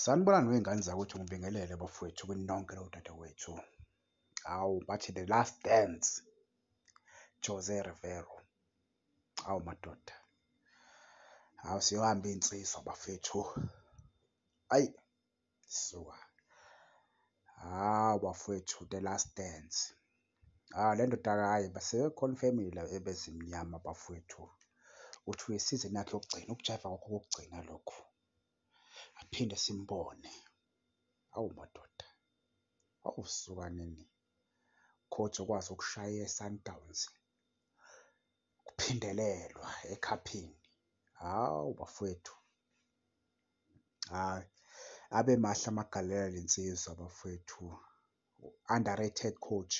Sanibonani wey'ngane zakwethu ngibingelele bafowethu kunonke lowo dadewethu. Hawu bathi the last dance Jose Rivero. Hawu madoda. Hawu siyohamba iy'nsizwa bafethu. Ayi suka. Hawu bafowethu the last dance. Hhayi le ndoda hhayi sebekhona ifemeli la ebezimnyama bafwethu. Uthi uyisizini yakhe yokugcina, ukujaiva kwakhe okokugcina lokhu. Aphinde simbone. Awu madoda. Awu suka nini. Coach okwazi ukushaya iSundowns. Kuphindelelwa ekhaphini. Hawu bafwethu. Hhayi abe mahle amagalela lensizwa bafwethu. underrated coach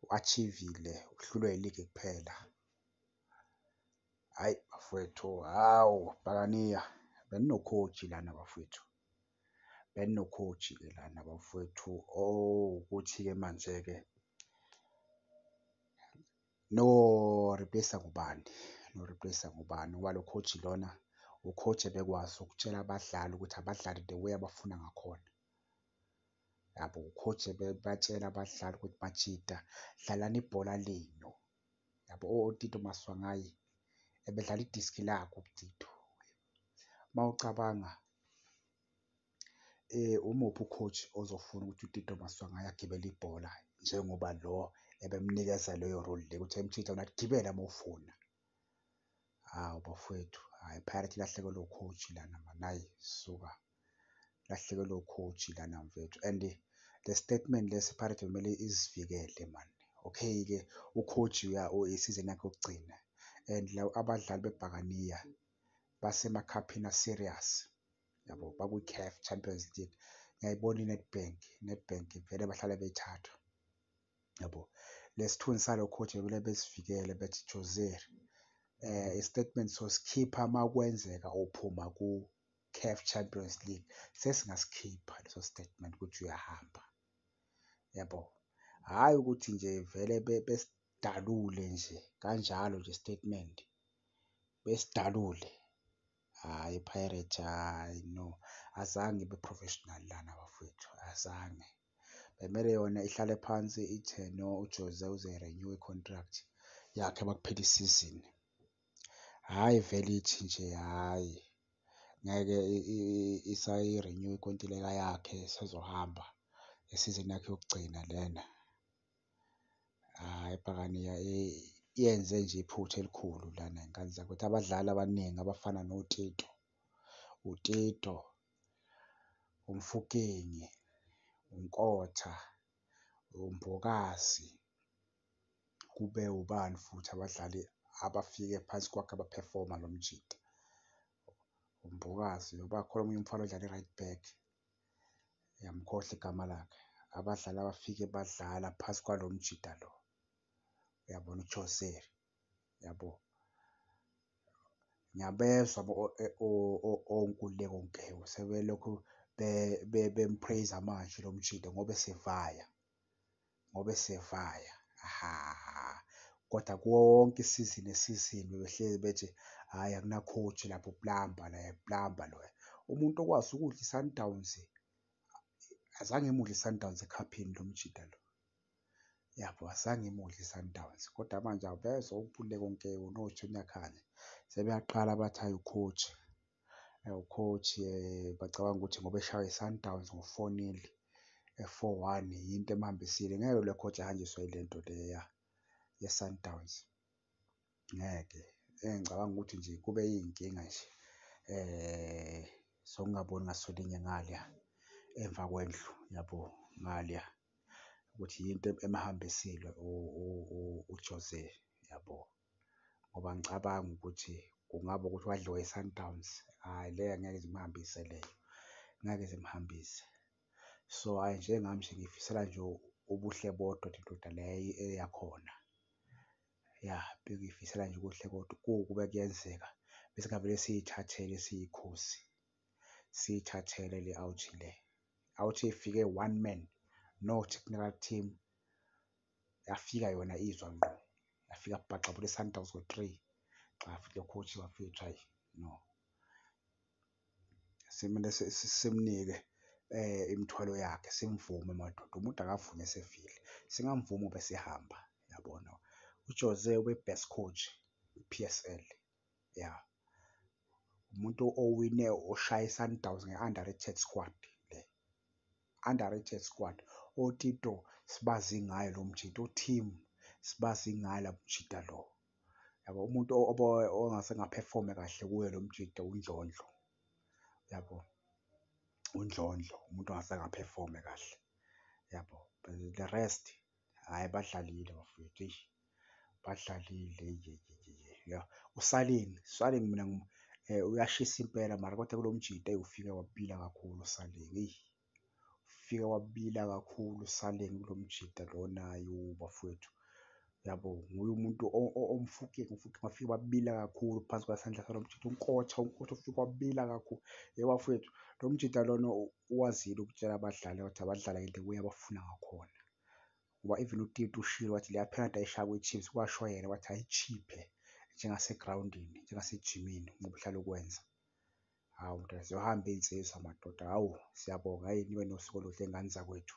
u-achievile uhlulwe iligi kuphela hayi bafowethu hawu bhakaniya beninokhoji lana bafowethu beninokhoji ke lana bafowethu oh ukuthi-ke manje-ke No replace ngubani? No replace ngubani? Ngoba lo coach lona ucoach ebekwazi ukutshela abadlali ukuthi abadlali the way abafuna ngakhona. Yabo ucoach ebebatshela abadlali ukuthi bajida dlalani ibhola lenu. Yabo oTito Maswangayi ebedlala idiski lakhe uTito. Mawucabanga Umuphi u-coach ozofuna ukuthi uTito Maswanganyi agibele ibhola njengoba lo ebemnikeza leyo role le ukuthi ayimthinta yona athi gibela mowufuna. Hawu bafwethu hhayi iPirates ilahlekelwe u-coach lana mani hhayi suka. Ilahlekelwe u-coach lana mfethu and le statement lesi iPirates bekumele izivikele mani. Okay-ke u-coach isizini yakhe yokugcina and abadlali bebhakaniya basemakhaphini a-serious. yabo bakwi-caf champions league ngiyayibona i-nedbank i-nedbank vele bahlale bethathwa yabo lesithunzi salo coach bebele besivikele bethi joser eh istatement sosikhipha uma kwenzeka uphuma ku-caf champions league sesingasikhipha leso statement ukuthi uyahamba yabo hhayi ukuthi nje vele besidalule nje kanjalo nje statement besidalule Hhayi iPirates hhayi no, azange ibe professional lana bafwethu, azange. Bekumele yona ihlale phansi ithe no uJose uzoyi-renew-a i-contract yakhe makuphela isizini. Hhayi vele ithi nje hhayi ngeke isayi-renew-a inkontileka yakhe, isezohamba ngesizini yakhe yokugcina lena. Hhayi ibhakane yenze nje iphutha elikhulu lana ngane zakwethu. Abadlali abaningi abafana noTito, uTito, uMfokeng, uNkotha, uMbokazi, kube ubani futhi abadlali abafike phansi kwakhe abaphefoma lo mjita. UMbokazi noba khona omunye umfana odlala e-right back, Uyamkhohlwa igama lakhe. Abadlali abafike badlala phasi kwalo mjida lo. Uyabona uChoseri. Yabo. Ngiyabezwa onkululeko Nkewu sebelokhu bempraise manje lo mjida ngoba esevaya. ngoba esevaya hhaahh kodwa kuwo wonke i-season ne-season bebehlezi bethi hhayi akuna-coach lapho uplamba naye uplamba loya. Umuntu okwazi ukudla i-Sundowns azange imudle i-Sundowns ekhaphini lo mjita lo, yabo azange imudle i-Sundowns kodwa manje awubezwa uphule konke uNoah Junior Khanye sebeyaqala bathi hhayi u-coach. ucoach bacabanga ukuthi ngoba eshawa iSundowns ngo-four nil, four one yinto emuhambisile. Ngeke lo coach ahanjiswe yile nto le yeSundowns, ngeke. Engicabanga ukuthi nje kube iy'nkinga nje zokungaboni ngaso linye ngale emva kwendlu yabo ngale ukuthi yinto emuhambisile uJose, yabo. ngoba ngicabanga ukuthi kungaba ukuthi wadliwa iSundowns, hhayi le angeke ize imuhambise leyo, ngeke ize imuhambise. So, hhayi njengami nje ngiyifisela nje ubuhle bodwa nje indoda le eyakhona. Ya, bengiyifisela nje ubuhle kodwa ukube kuyenzeka besingavele siyithathele siyiKhozi, siyithathele le Auchi le. Auchi ifike one man not kunala team. yafika yona izwa ngqo yafika bhaxa bule Sundowns ngo 3 xa afike coach wafika try no simele simnike eh imithwalo yakhe simvume madoda umuntu akavume sefile singamvumi bese ehamba yabona uJose ube best coach kwiPSL. ya umuntu owine oshaya iSundowns nge-underrated squad le underrated squad otito sibazi ngayo lo mjita uteam sibazi ngayo la mjita lo yabo umuntu ongase ngaphefome kahle kuyo lo mjita undlondlo yabo undlondlo umuntu ongase ngaphefome kahle yabo the rest Hhayi badlalile bafwethu eish badlalile yeyeyeye yah. USalin, Salin mina uyashisa impela mara kodwa kulo mjita eyi ufike wabila kakhulu uSalin eyi. Ufike wabila kakhulu uSalin kulo mjita lona yoh bafwethu yabo. Nguye umuntu omfukile umfukile bafike babila kakhulu phansi kwesandla salo mjita uNkotha, uNkotha ufike wabila kakhulu. Hhe bafwethu lo mjita lona . ukwazile ukutshela abadlali ukuthi abadlale ngendlela obuye abafuna ngakhona ngoba even utiti ushilo wathi leya penalty ayishaya kwi-chiefs kwasho yena wathi ayichiphe njengasegrawundini njengasejimini ngoba uhlala ukwenza hawu mntazi yohamba iy'nsizwa madoda hawu siyabonga hhayi nibe nosuku oluhle ngane zakwethu.